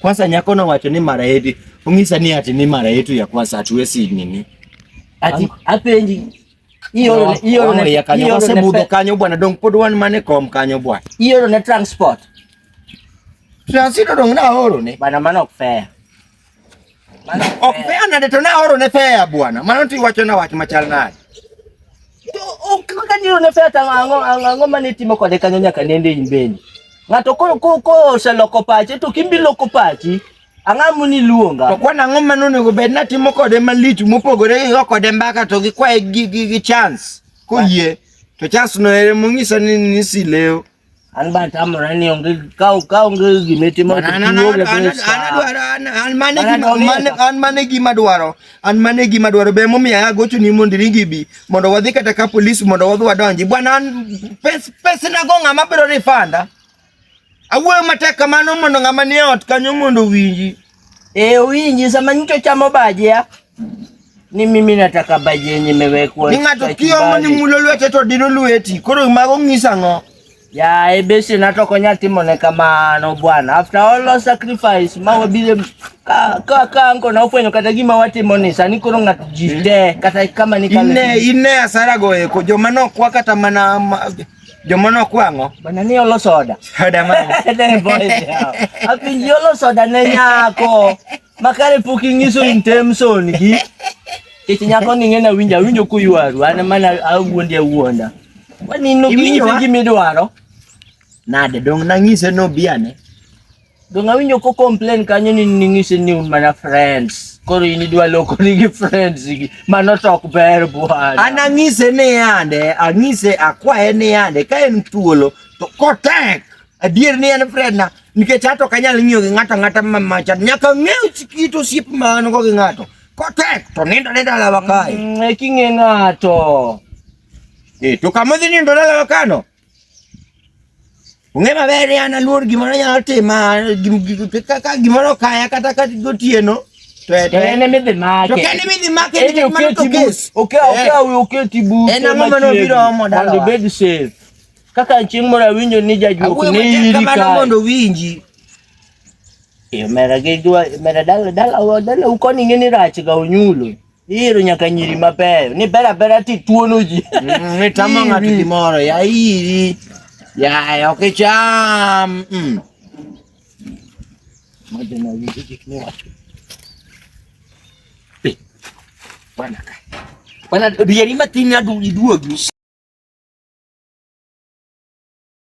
Kwanza nyako na wacho ni mara yetu. Ungisa ni ati ni mara yetu ya kwanza hatuwezi nini? Ati apenji hiyo hiyo ni ya kanyo kwa mudo kanyo bwana dong pod wan mane kom kanyo bwana. Hiyo ni transport. Transit dong na horo ne. Bana mano fair. Mano fair na deto na horo ne fair bwana. Mano ti wacho na wach machal nade. Okanyo ne feta ango ango mane timo kode kanyo nyaka nende imbeni. Ng'ato ko ko ko oseloko pache to kimbi loko pachi. Ang'a muni luonga. To kwana ang'o mane onego bed na timo kode malich mopogore gi kode mbaka to gi kwaye gi gi chance. Koyie to chance no ere mong'isa ni ni sileo. An ba tamora ni onge kau kau onge gima itimo to an mane gima dwaro an mane gima dwaro be momiyo agocho ni mondo iringi bi mondo wadhi kata ka polis mondo wadhi wadonji bwana an pes pes na go ng'ama biro rifanda awuoyo matek kamano mondo ng'ama nie ot kanyo mondo owinji E, uwinji sama nyicho chamo baje ya ni mimi nataka baje yenye imewekwa Ni ng'ato kiomo ni mulo lwete to dino lweti. Koro mago ng'isa ng'o? Ya ebesi nato konya timo ne kamano bwana. After all the sacrifice ma wabile ka ka ka anko na ufwenyo kata gima watimo ni sani koro ng'ato jite kata kama ni kale. Ine ine asara goeko joma nokwa kata mana ma- Joma nokwang'o. Bana ni olo soda. Soda ma. Ne boys. Apinji olo soda ne nyako. Makare pok ing'iso intention gi. Kech nyako ni ng'ena winjo awinjo kuywaru an mana awuondi awuonda. Wani no gimiyo gimidwaro. Nade dong nang'ise no biane. Doon nga nyo ko complain kanyo ni ningisi ni un mana friends. Koro ini dwa loko ni gi friends gi mano tok ber buhana. An ang'ise ni yande, ang'ise akwaye ni yande ka en thuolo to kotek adier ni en friend na nikech ato kanyal ng'iyo gi ng'ato ng'ata mamacha nyaka ng'ew kit osiep ma an go gi ng'ato kotek to nindo ne dalawa kae. Mm, e king'e ng'ato. Eh, to kama dhi nindo dalawa kano Ong'e maber ni an aluor gimoro nyalo tima ka gimoro kaya kata ka gotieno to en midhi make to kende midhi make ni gik mano to kes okay okay we okay tibu en ang'o ma nobiro omo dala mondo bed safe kaka chieng' moro awinjo ni jajuok ne iri ka kamano mondo winji e, mera gidwa mera dala dala dala ukoni ng'e ni rach ga onyulo Iro nyaka nyiri mabeyo. Ni bera bera ti tuono ji. Mm, ni tamo ng'ato gimoro. Ya iri. Ya ok cham. Mm. Madena winjo gik ni wacho. Bwana ka. Bwana rieri matin aduogi duogi.